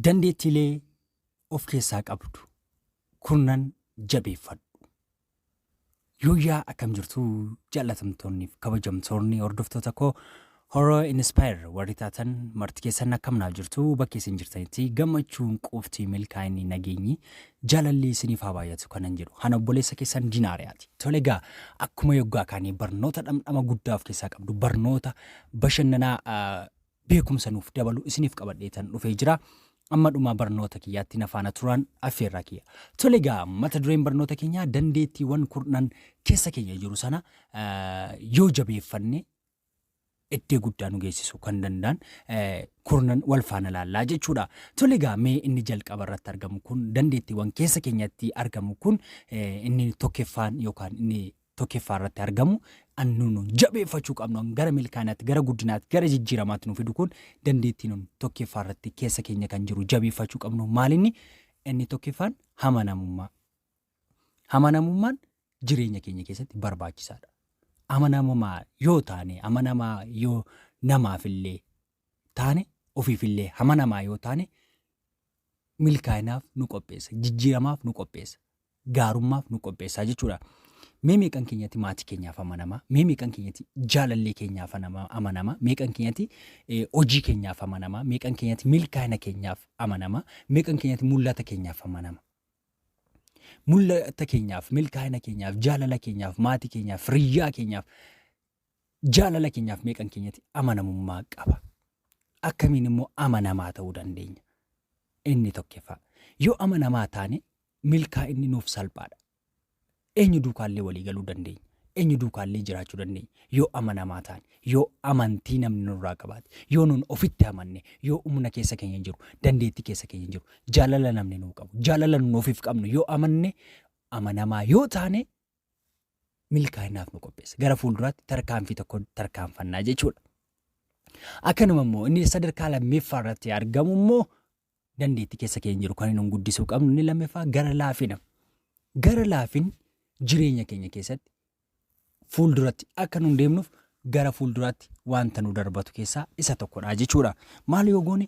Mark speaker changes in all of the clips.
Speaker 1: Dandeettiilee of keessaa qabdu kurnan jabeeffadhu. Yooyyaa akkam jirtu jaallatamtoonniif kabajamtoonni hordoftoota koo Horoo Inspire warri taatan marti keessan akkam naaf jirtu bakki isin jirtanitti gammachuun quuftii milkaa'inni nageenyi jaalalli isiniif haa baay'atu kanan jedhu ana obboleessa keessan dinaariyaati. Tole egaa akkuma yoggaa kaanii barnoota dhamdhama guddaa of keessaa qabdu barnoota bashannanaa ah, beekumsa nuuf dabalu isiniif qabadheetan dhufee jira. Amma dhumaa barnoota kiyyaatti na faana turaan affeerraa kiyya. Tole egaa mata dureen barnoota keenyaa dandeettiiwwan kurnan keessa keenya jiru sana yoo jabeeffanne iddee guddaa nu geessisuu kan danda'an kurnan wal faana laallaa jechuudha. Tole egaa mee inni jalqaba irratti argamu kun dandeettiiwwan keessa keenyatti argamu kun inni tokkeffaan yookaan inni tokkeffaa irratti argamu an nu nu jabeeffachuu qabnu an gara milkaanaatti gara guddinaatti gara jijjiiramaatti nu fidu kun dandeettii nun tokkeffaa irratti keessa keenya kan jiru jabeeffachuu qabnu maalinni inni tokkeffaan hamanamummaa hamanamummaan jireenya keenya keessatti barbaachisaadha. Amanamaa yoo taane amanamaa yoo namaafillee taane ofiifillee hamanamaa yoo taane milkaa'inaaf nu qopheessa jijjiiramaaf nu qopheessa gaarummaaf nu qopheessaa jechuudha. Mee meeqan keenyatti maatii keenyaaf amanamaa mee meeqan keenyatti jaalallee keenyaaf anama- amanamaa meeqan keenyatti eh, hojii keenyaaf amanamaa meeqan keenyatti milkaa'ina keenyaaf amanamaa meeqan keenyatti mul'ata keenyaaf amanama. Mul'ata keenyaaf milkaa'ina keenyaaf jaalala keenyaaf maatii keenyaaf riyyaa keenyaaf Jaalala keenyaaf meeqan keenyatti amanamummaa qaba? Akkamiin immoo amanamaa ta'uu dandeenya? Inni tokkeffaa. Yoo amanamaa taane milkaa'inni nuuf salphaadha. Eenyu duukaallee walii galuu dandeenya. Eenyu duukaallee jiraachuu dandeenya. Yoo amanamaa taane, yoo amantii namni nurraa qabaate, yoo nun ofitti amanne, yoo humna keessa keenya jiru, dandeettii keessa keenya jiru, jaalala namni nuu qabu, jaalala nun ofiif qabnu yoo amanne, amanamaa yoo taane milkaa'inaaf nu qopheessa. Gara fuulduraatti tarkaanfii tokko tarkaanfannaa jechuudha. Akkanuma immoo inni sadarkaa lammeeffaa irratti argamu immoo dandeettii keessa keenya jiru kan nu guddisuu qabnu inni lammeeffaa gara laafina. Gara laafin jireenya keenya keessatti fuulduratti akka nu deemnuuf gara fuulduraatti wanta nu darbatu keessaa isa tokkodha jechuudha. Maal yoo goone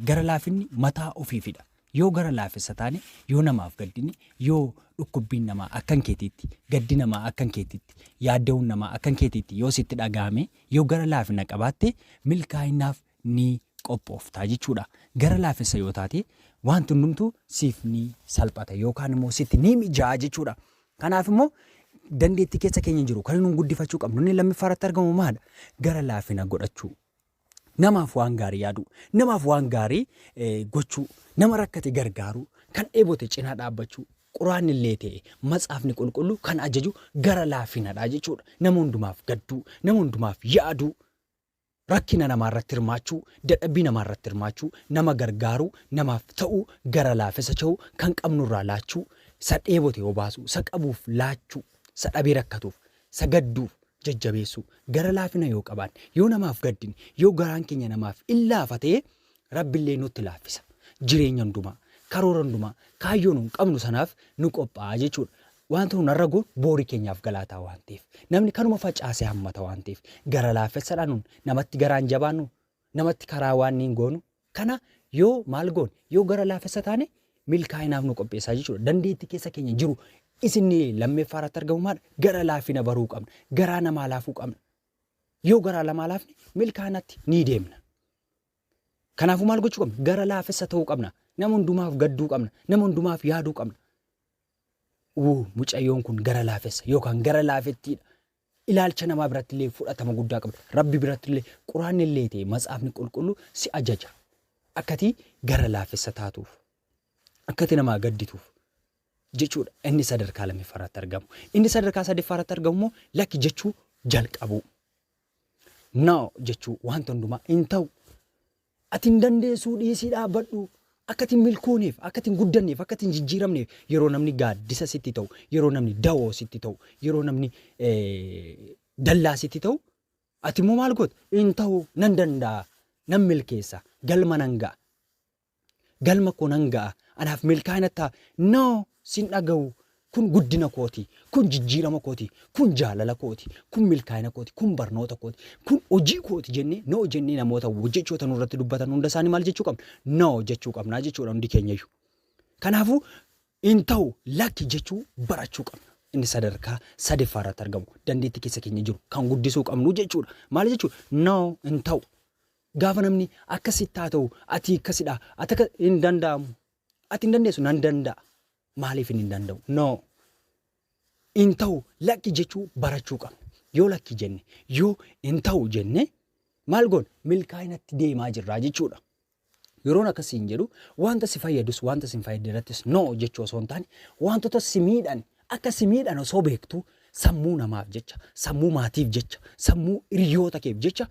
Speaker 1: gara laafinni mataa ofiifidha. Yoo gara laafessa taane, yoo namaaf gaddine, yoo dhukkubbiin namaa akkan keetiitti, gaddi namaa akkan keetiitti, yaadda'uun namaa akkan keetiitti yoo sitti dhaga'ame, yoo gara laafina qabaatte milkaa'inaaf ni qophoofta jechuudha. Gara laafessa yoo taate waanti hundumtuu siif ni salphata yookaan immoo sitti ni mijaa'a jechuudha. Kanaaf immoo dandeettii keessa keenya jiru kan nuun guddifachuu qabnu inni lammiffaarratti argamu maal? Gara laafina godhachuu. Namaaf waan gaarii yaaduu, namaaf waan gaarii gochuu, nama rakkate gargaaruu, kan dheebote cinaa dhaabbachuu, quraanni illee ta'e matsaafni qulqulluu kan ajaju gara laafinadha jechuudha. Nama hundumaaf gadduu, nama hundumaaf yaaduu, rakkina namaa irratti hirmaachuu, dadhabbii namaa irratti hirmaachuu, nama gargaaruu, namaaf ta'uu, gara laafessa cha'uu, kan qabnurraa laachuu, isa dheebote obaasuu, isa qabuuf laachuu, isa dhabee rakkatuuf sagadduuf jajjabeessuu, gara laafina yoo qabaanne, yoo namaaf gaddine, yoo garaan keenya namaaf in laafa ta'e, Rabbi illee nutti laaffisa. Jireenya hundumaa, karoora hundumaa, kaayyoo nun qabnu sanaaf nu qophaa'a jechuudha. Wanta nun har'a goonu boori keenyaaf galaataa waan ta'eef. Namni kanuma facaase hammata waan ta'eef. Gara laafessadha nun, namatti garaan jabaannu namatti karaa waan niin goonu kana yoo maal goone yoo gara laafessa taane milkaa'inaaf nu qopheessaa jechuudha. Dandeetti keessa keenya jiru isinni lammeeffaa irratti argamu maal gara laafina baruu qabna. Garaa namaa laafuu qabna. Yoo garaa lamaa laafne milkaa'inatti ni deemna. Kanaafuu maal gochuu qabna? Gara laafessa ta'uu qabna. Nama hundumaaf gadduu qabna. Nama hundumaaf yaaduu qabna. Wuu mucayyoon kun gara laafessa yookaan gara laafettiidha. Ilaalcha namaa biratti illee fudhatama guddaa qabda. Rabbi biratti illee quraanni illee ta'e matsaafni qulqullu si ajaja. Akkati gara laafessa taatuuf. Akkati namaa gaddituuf. Jechuudha inni sadarkaa lammiffaa irratti argamu. Inni sadarkaa sadaffaa irratti argamu immoo lakki jechuu jalqabuu. Noo jechuu wanta hundumaa hin ta'u. Ati hin dandeessuu dhiisii dhaabbadhu. Akka ati hin milkoonef, akka ati hin guddanneef, akka ati hin jijjiiramneef yeroo namni gaaddisa sitti ta'u, yeroo namni dawoo sitti ta'u, yeroo namni dallaa sitti ta'u ati immoo maal goota? Hin ta'u nan danda'a, nan milkeessa, galma nan ga'a. Galma koo nan ga'a, anaaf milkaa'ina ta'a. No, Sin dhagahu. Kun guddina kooti. Kun jijjiirama kooti. Kun jaalala kooti. Kun milkaa'ina kooti. Kun barnoota kooti. Kun hojii kooti jennee no jennee namoota jechoota nurratti dubbatan hunda isaanii maal jechuu qabna? No jechuu qabna jechuudha hundi keenyayyu. Kanaafuu hin ta'u lakki jechuu barachuu qabna. Inni sadarkaa sadeeffaa irratti argamu dandeettii keessa keenya jiru kan guddisuu qabnu jechuudha. Maal jechuudha? No hin ta'u. Gaafa namni akkasitti haa ta'u ati akkasidha ati akka hin danda'amu. Ati hin dandeessu nan danda'a. Maaliif hin danda'u? No. Hin ta'u lakki jechuu barachuu qabna. Yoo lakki jenne, yoo hin ta'u jenne maal goona? Milkaa'inatti deemaa jirraa jechuudha. Yeroon akkasii hin jedhu wanta si fayyadus wanta si hin fayyadne irrattis no jechuu osoo hin taane wantoota si miidhan akka si miidhan osoo beektu sammuu namaaf jecha, sammuu maatiif jecha, sammuu hiriyoota keef jecha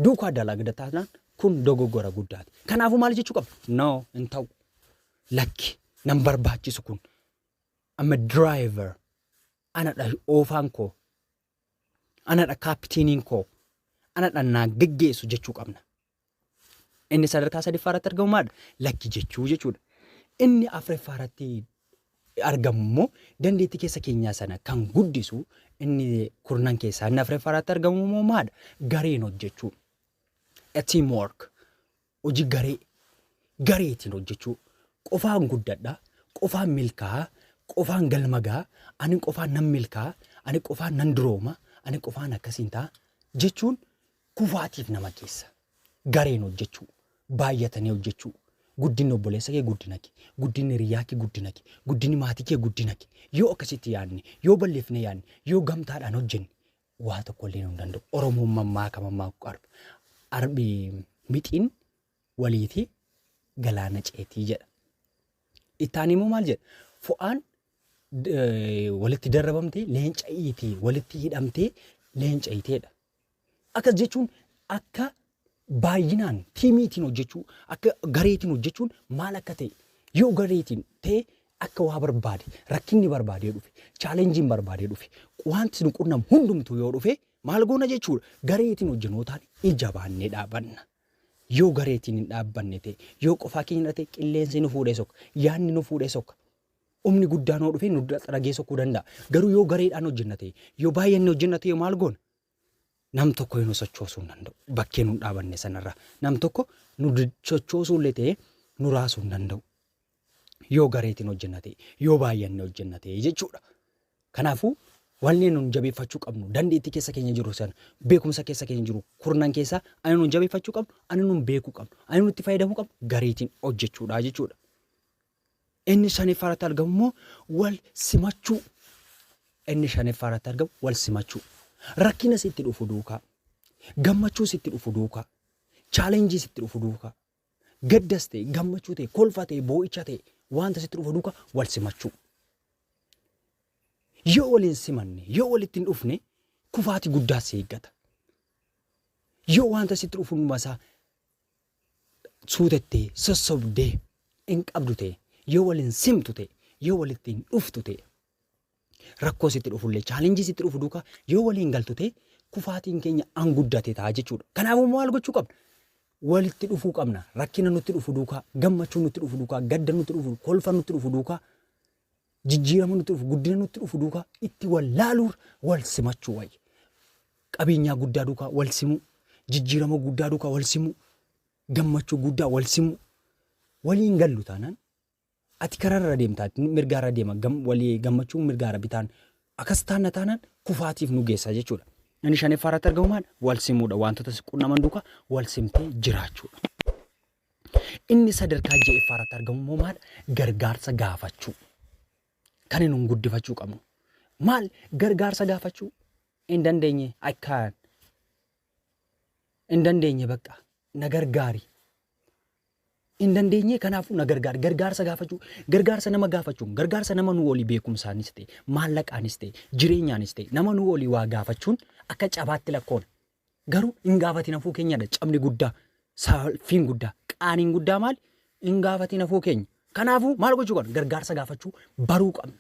Speaker 1: duukaa dalagda taanaan Kun dogoggora guddaati. Kanaafuu maal jechuu qabna? No, hin ta'u. Lakki, nan barbaachisu kun. I'm a driver. Anadha oofaan koo. Anadha kaapitiiniin koo. Anadha naa geggeessu jechuu qabna. Inni sadarkaa sadiffaa irratti argamu maadha? Lakki jechuu jechuudha. Inni afraffaa irratti argamu immoo dandeettii keessa keenyaa sana kan guddisu inni kurnan keessaa inni afraffaa irratti argamu immoo maadha? Gareen hojjechuu. A team work. Hojii garee. Gareetiin hojjechuu. Qofaan guddadha. Qofaan milkaa'a. Qofaan galma ga'a. Ani qofaan nan milkaa'a. Ani qofaan nan durooma. Ani qofaan akkasiin ta'a. Jechuun kufaatiif nama geessa. Gareen hojjechuu. Baay'atanii hojjechuu. Guddinni obboleessa kee guddina kee. Guddinni hiriyyaa kee guddina kee. Guddinni maatii kee guddina kee. Yoo akkasitti yaadne, yoo bal'ifnee yaadne, yoo gamtaadhaan hojjenne waa tokko illee nu hin danda'u. Oromoon mammaaka mammaaku arba. Arbi mixiin waliiti galaana ceetii jedha. Ittaan immoo maal jedha? Fo'aan eh, walitti darrabamtee leenca iitee walitti hidhamtee leenca iiteedha. Akkas jechuun akka Baay'inaan tiimiitiin hojjechuu akka gareetiin hojjechuun maal akka ta'e yoo gareetiin ta'e akka waa barbaade rakkinni barbaadee dhufe chaalenjiin barbaadee dhufe wanti nu qunnamu hundumtuu yoo dhufe maal goona jechuudha gareetiin hojjenootaan ija baannee dhaabanna. Yoo gareetiin hin dhaabbanne ta'e yoo qofaa keenya ta'e qilleensi nu fuudhee soka yaadni nu fuudhee soka humni guddaan yoo dhufe nu xaragee sokuu danda'a garuu yoo gareedhaan hojjenna ta'e yoo baay'anne hojjenna ta'e maal goona nam tokko nu sochoosuu hin danda'u. Bakkee nun dhaabanne sanarra nam tokko nu sochoosuu illee ta'ee nu raasuu hin danda'u. Yoo gareetiin hojjenna ta'e, yoo baay'anne hojjenna ta'e jechuudha. Kanaafuu wanni nun jabeeffachuu qabnu dandeettii keessa keenya jiru sana beekumsa keessa keenya jiru kurnan keessaa ani nun jabeeffachuu qabnu ani nun beekuu qabnu ani nutti fayyadamuu qabnu gareetiin hojjechuudha jechuudha. Inni shaniffaa irratti argamu immoo wal simachuu. Inni shaniffaa irratti argamu wal simachuu. Rakkina sitti dhufu duukaa, gammachuu sitti dhufu duukaa, chaalenjii sitti dhufu duukaa, gaddas ta'e, gammachuu ta'e, kolfa ta'e, boo'icha ta'e, wanta sitti dhufu duukaa wal simachuu. Yoo wal hin simanne, yoo walitti hin dhufne, kufaati guddaa si eeggata. Yoo wanta sitti dhufu hundumasaa suutette, sossobde, hin qabdu ta'e, yoo wal hin simtu ta'e, yoo walitti hin dhuftu ta'e, rakkoo sitti dhufullee, challenge sitti dhufu duuka yoo walii hin galtu ta'e, kufaatiin keenya an guddate ta'a jechuudha. Kanaafuu maal gochuu qabna? Walitti dhufuu qabna. Rakkina nutti dhufu duukaa, gammachuu nutti dhufu duukaa, gadda nutti dhufu, kolfa nutti dhufu duukaa Jijjiirama nutti dhufu, guddina nutti dhufu duukaa itti wal laaluur wal simachuu wayya. Qabeenyaa guddaa duukaa wal simuu, jijjiirama guddaa duukaa wal simuu, gammachuu guddaa wal simuu. Waliin gallu taanaan ati kararra deemtaa mirgaarra deema walii gammachuu mirgaarra bitaan akkas taanna taanaan kufaatiif nu geessa jechuudha. Inni shaneffaa irratti argamu maal wal simuudha wantoota si qunnaman duukaa wal simtee jiraachuudha. Inni sadarkaa ja'effaa irratti argamu immoo maal? Gargaarsa gaafachuu. Kan nuun guddifachuu qabnu. Maal gargaarsa gaafachuu? Hin dandeenye I can. Hin dandeenye bakka na gargaari. Hin dandeenye kanaafuu na gargaari. Gargaarsa gaafachuu. Gargaarsa nama gaafachuun gargaarsa nama nuu olii beekumsaanis ta'e maallaqaanis ta'e jireenyaanis ta'e nama nuu olii waa gaafachuun akka cabaatti lakkoona. Garuu hin gaafatiin hafuu keenyadha cabni guddaa, saalfiin guddaa, qaaniin guddaa maali? Hin gaafatiin hafuu keenya. Kanaafuu maal gochuu qabna? Gargaarsa gaafachuu baruu qabna.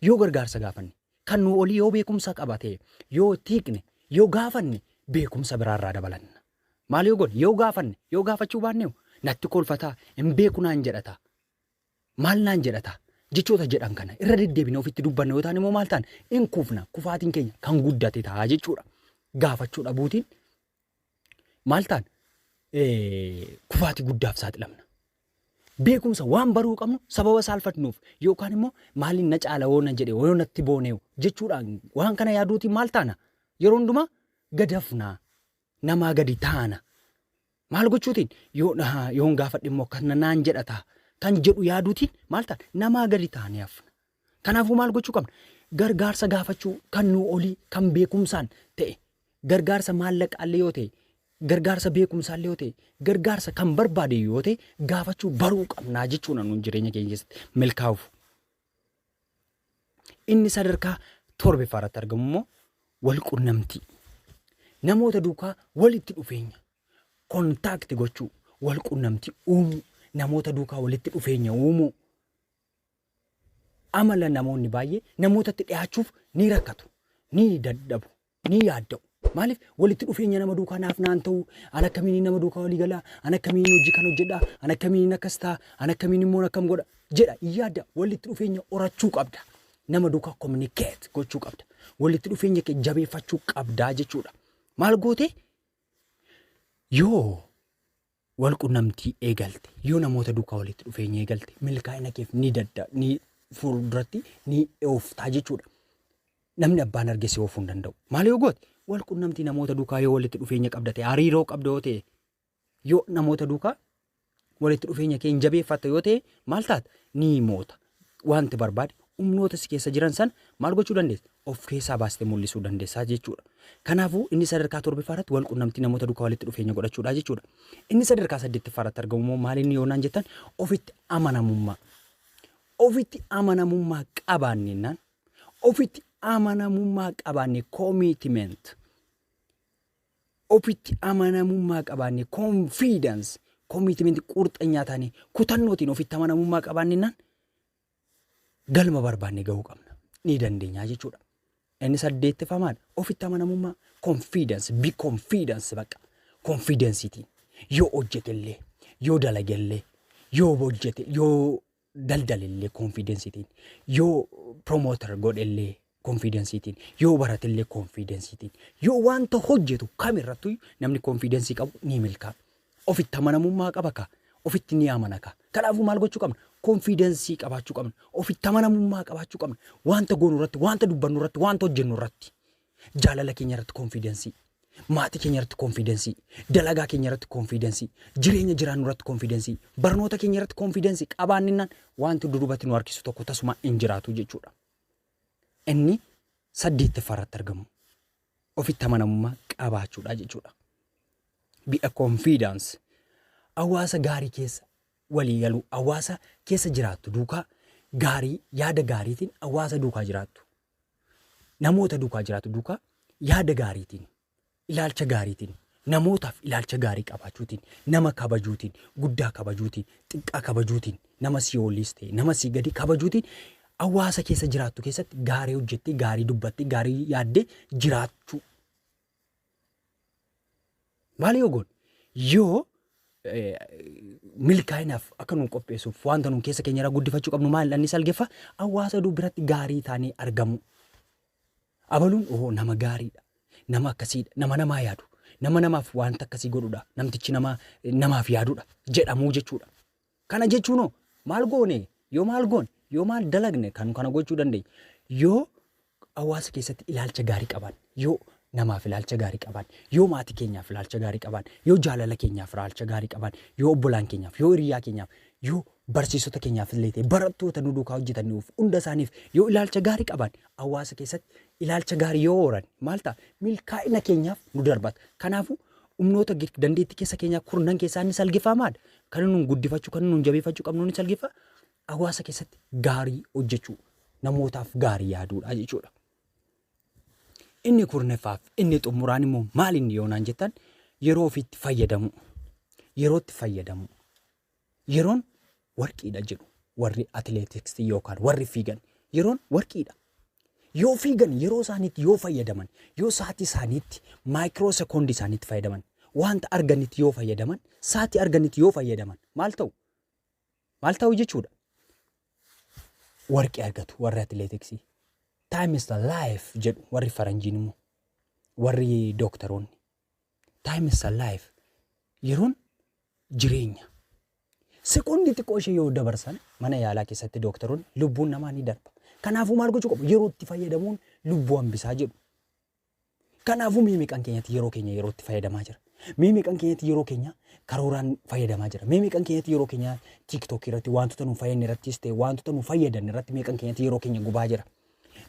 Speaker 1: Yoo gargaarsa gaafanne, kan nu olii yoo beekumsa qaba ta'e, yoo itti hiikne, yoo gaafanne beekumsa biraarraa dabalanna. Maal yoo goone? Yoo gaafanne, yoo gaafachuu baanne natti kolfataa, hin beeku naan jedhataa. Maal naan jedha ta'a? Jechoota jedhan kana irra deddeebine ofitti dubbanna yoo ta'an immoo maal ta'an? In kufna. Kufaatiin keenya kan guddate ta'a jechuudha. Gaafachuu dhabuutiin maal ta'an? Kufaatii guddaaf saaxilamna. Beekumsa waan baruu qabnu sababa saalfatnuuf yookaan immoo maaliin na caala woo na jedhe woo natti booneewu jechuudhaan waan kana yaaduutiin maal taana? Yeroo hundumaa gadafnaa. namaa gadi taana. Maal gochuutiin yoo dhahaa yoon gaafadhe immoo akkana naan jedha ta'a kan jedhu yaaduutiin maal taana namaa gadi taanee hafna. Kanaafuu maal gochuu qabna? Gargaarsa gaafachuu kan nuu olii kan beekumsaan ta'e gargaarsa maallaqaallee yoo ta'e gargaarsa beekumsaallee yoo ta'e gargaarsa kan barbaade yoo ta'e gaafachuu baruu qabnaa jechuudha nuun jireenya keenya keessatti milkaa'uuf. Inni sadarkaa torbeffaa irratti argamu immoo wal qunnamtii. Namoota duukaa walitti dhufeenya kontaakti gochuu wal qunnamtii uumuu namoota duukaa walitti dhufeenya uumuu. Amala namoonni baay'ee namootatti dhiyaachuuf ni rakkatu ni dadhabu ni yaadda'u. Maaliif walitti dhufeenya nama duukaa naaf naan ta'u, an akkamiin nama duukaa walii gala, an akkamiin hojii kan hojjedha, an akkamiin akkas ta'a, an akkamiin immoo akkam godha jedha hin yaadda. Walitti dhufeenya horachuu qabda. Nama duukaa communicate gochuu qabda. Walitti dhufeenya kee jabeeffachuu qabdaa jechuudha. Maal gootee? Yoo wal qunnamtii eegalte yoo namoota duukaa walitti dhufeenya eegalte milkaa'ina keef ni dadda ni fuulduratti ni ooftaa jechuudha. Namni abbaan arge si oofuu hin danda'u. Maal yoo goote wal qunnamtii namoota duukaa yoo walitti dhufeenya qabda ta'e hariiroo qabda yoo ta'e yoo namoota duukaa walitti dhufeenya kee hin jabeeffatta yoo ta'e maal taata ni moota. waanti barbaade humnoota si keessa jiran sana maal gochuu dandeessa? Of keessaa baastee mul'isuu dandeessaa jechuudha. Kanaafuu inni sadarkaa torbiffaa irratti wal qunnamtii namoota duukaa walitti dhufeenya godhachuudha jechuudha. Inni sadarkaa saddeettiffaa irratti argamu immoo maal inni yoonaan jettan ofitti amanamummaa. Ofitti amanamummaa qabaannennaan ofitti amanamummaa qabaanne commitment ofitti amanamummaa qabaannee confidence commitment qurxanyaa taanee kutannootiin ofitti amanamummaa qabaannennaan galma barbaanne gahuu qabna ni dandeenyaa jechuudha. Inni saddeettaffaa maal ofitti amanamummaa confidence be confidence baqa confidencetiin yoo hojjetellee yoo dalagellee yoo hojjete yoo daldalellee konfiidensiitiin yoo promoter godhellee konfiidensiitiin yoo baratellee konfiidensiitiin yoo wanta hojjetu kamirrattu namni konfiidensii qabu ni milkaa ofitti amanamummaa qaba ka ofitti ni amana ka kanaafuu maal gochuu qabna konfiidensii qabaachuu qabna ofitti amanamummaa qabaachuu qabna wanta goonu irratti wanta dubbannu irratti wanta hojjennu irratti Jaalala keenya irratti konfiidensii. Maatii keenya irratti konfiidensii. Dalagaa keenya irratti konfiidensii. Jireenya jiraannu irratti konfiidensii. Barnoota keenya irratti konfiidensii qabaanninnaan wanti dudubatti nu harkisu tokko tasumaa hin jiraatu jechuudha. Inni saddeettaffaa irratti argamu ofitti amanamummaa qabaachuudha jechuudha. Be a confidence. Hawaasa gaarii keessa walii galuu, hawaasa keessa jiraattu duukaa gaarii yaada gaariitiin hawaasa duukaa jiraattu. namoota duukaa jiraatu duukaa yaada gaariitiin, ilaalcha gaariitiin, namootaaf ilaalcha gaarii qabaachuutiin, nama kabajuutiin, guddaa kabajuutiin, xiqqaa kabajuutiin, nama sii oliis ta'e, nama sii gadi kabajuutiin hawaasa keessa jiraattu keessatti gaarii hojjettee, gaarii dubbattee, gaarii yaaddee jiraachuu Maal yoo goone? Yoo milkaa'inaaf akka nu qopheessuuf wanta nu keessa keenya irraa guddifachuu qabnu maal dhannis algeffa hawaasa oduu biratti gaarii taanee argamu. Abaluun oo nama gaariidha. Nama akkasiidha. Nama namaa yaadu. Nama namaaf wanta akkasii godhudha. Namtichi nama namaaf yaadudha. Jedhamuu jechuudha. Kana jechuun hoo maal goone yoo maal goone yoo maal dalagne kan kana gochuu dandeenyu yoo hawaasa keessatti ilaalcha gaarii qaban yoo namaaf ilaalcha gaarii qaban yoo maatii keenyaaf ilaalcha gaarii qaban yoo jaalala keenyaaf ilaalcha gaarii qaban yoo obbolaan keenyaaf yoo hiriyaa keenyaaf yoo barsiisota keenyaaf illee ta'e barattoota nu duukaa hojjetaniif hunda isaaniif yoo ilaalcha gaarii qaban hawaasa keessatti ilaalcha gaarii yoo horan maal ta'a milkaa'ina keenyaaf nu darbata kanaafuu Humnoota gid- dandeettii keessa keenyaa kurnan keessaa inni salgiffaa maal? Kan inni nuun guddifachuu, kan inni nuun jabeeffachuu qabnu inni salgiffaa hawaasa keessatti gaarii hojjechuu, namootaaf gaarii yaaduudha jechuudha. Inni kurneffaaf inni xumuraan immoo maal inni yoonaan jettan yeroo ofiitti fayyadamuu, yerootti fayyadamuu. Yeroon warqiidha jedhu warri atileetiksii yookaan warri fiigan yeroon warqiidha. Yoo fiigan yeroo isaaniitti yoo fayyadaman, yoo sa'aatii isaaniitti maayikiroo sekoondii isaaniitti fayyadaman, wanta arganitti yoo fayyadaman, sa'aatii arganitti yoo fayyadaman maal ta'u? Maal ta'u jechuudha? Warqii argatu warri atileetiksii. Time is the life jedhu warri faranjiin immoo warri dooktaroonni. Time is a life. Yeroon jireenya. Sekoondii xiqqoo ishee yoo dabarsan mana yaalaa keessatti dooktaroonni lubbuun namaa ni darba. Kanaafuu maal gochuu qabu? Yeroo itti fayyadamuun lubbuu hambisaa jedhu. Kanaafuu mee meeqan keenyatti yeroo keenya yeroo itti fayyadamaa jira? Mee meeqan keenyatti yeroo keenya karooraan fayyadamaa jira? Mee meeqan keenyatti yeroo keenya TikTok irratti wantoota nu fayyadne irrattis ta'e wantoota nu fayyadan irratti meeqan keenyatti yeroo keenya gubaa jira?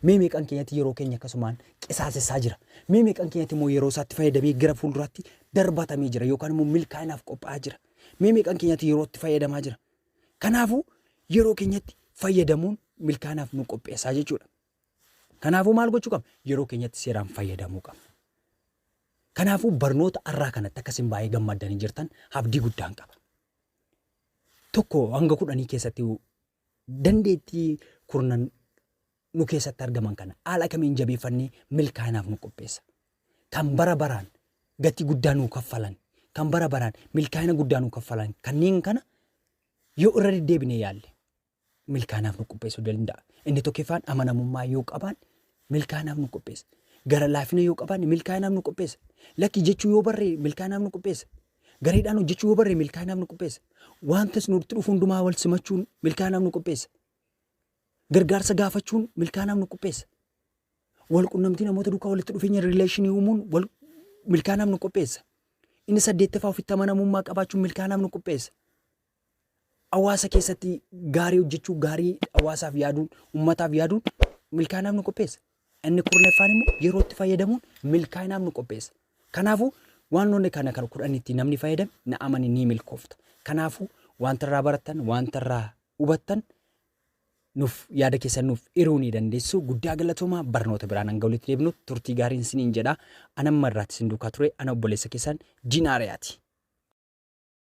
Speaker 1: Mee meeqan keenyatti yeroo keenya akkasumaan qisaasessaa jira? Mee meeqan keenyatti immoo yeroo isaatti fayyadamee gara fuulduraatti darbatamee jira yookaan immoo milkaa'inaaf qophaa'aa jira? Mee meeqan keenyatti yerootti fayyadamaa jira? Kanaafuu yeroo keenyatti fayyadamuun milkaa'inaaf nu qopheessaa jechuudha. Kanaafuu maal gochuu qabna? Yeroo keenyatti seeraan fayyadamuu qabna. Kanaafuu barnoota har'aa kanatti akkasiin baay'ee gammaddanii jirtan abdii guddaan qaba. Tokko hanga kudhanii keessatti Dandeettii kurnan nu keessatti argaman kana haala kamiin jabeeffannee milkaa'inaaf nu qopheessa? Kan bara baraan gatii guddaa nuu kaffalan, kan bara baraan milkaa'ina guddaa nuu kaffalan kanneen kana yoo irra deddeebinee yaalle milkaa'inaaf nu qopheessuu danda'a. Inni tokkoffaan amanamummaa yoo qabaanne milkaa'inaaf nu qopheessa. Gara laafina yoo qabaanne milkaa'inaaf nu qopheessa. Lakki jechuu yoo barree milkaa'inaaf nu qopheessa. Gareedhaan hojjechuu yoo barree milkaa'inaaf nu qopheessa. Wantas nutti dhufu hundumaa wal simachuun milkaa'inaaf nu qopheessa. Gargaarsa gaafachuun milkaa'inaaf nu qopheessa. Wal qunnamtii namoota duukaa walitti dhufeenya rileeshinii uumuun wal milkaa'inaaf nu qopheessa. Inni saddeettaffaa ofitti amanamummaa qabaachuun milkaa'inaaf nu qopheessa. hawaasa keessatti gaarii hojjechuu, gaarii hawaasaaf yaaduun, ummataaf yaaduun milkaa'inaaf nu qopheessa. Inni kurnaffaan immoo yeroo itti fayyadamuun milkaa'inaaf nu qopheessa. Kanaafuu wantoonni kana kan kudhan itti namni fayyadame na amani ni milkoofta. Kanaafuu wanta irraa barattan, wanta irraa hubattan nuuf yaada keessan nuuf hiruu ni dandeessu. Guddaa galatoomaa barnoota biraan hanga walitti deebinu turtii gaariin isiniin jedha. Anamma irraatti isin duukaa ture ana obboleessa keessan Jinaariyaati.